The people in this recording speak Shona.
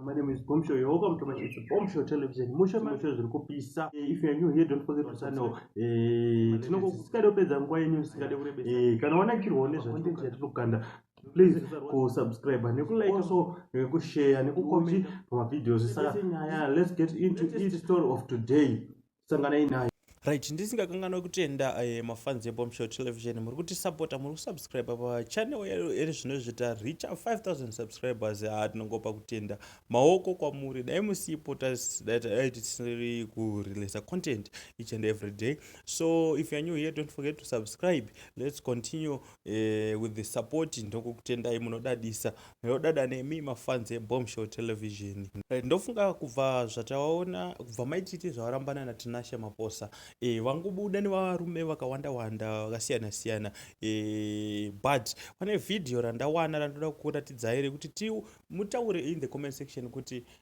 My name is Bombshell. You're welcome to my it's Bombshell Television. Mushe mushe zviri kupisa. Eh, if you are new here, don't forget to sign up. Eh, tinokukada kupedza nguva yenyu isikade kurebesa. Eh, kana wanakirwa nezvacontent yatinokanda please kusubscribe nekulike also nekushare nekucomment pamavideos saka nyaya let's get into each story of today sanganai nayo right ndisingakanganwe kutenda uh, eh, mafans ebombshow television muri kutisapota muri kusubscribe pachannel eri zvino izvi taricha 5000 subscribers haa ah, tinongopa kutenda maoko kwamuri dai musipo dai tisiri kurelisa content each and every day so if youare new here don't forget to subscribe let's continue uh, with the support ndokukutendai munodadisa Ndodada nemi mafans eBombshell Television. Eh, ndofunga kubva zvataona kubva maititi zvavarambana naTinashe Maposa e, vangobuda nevarume vakawanda wanda vakasiyana siyana e, but pane video randawana randoda kukuratidzai rekuti ti mutaure in the comment section kuti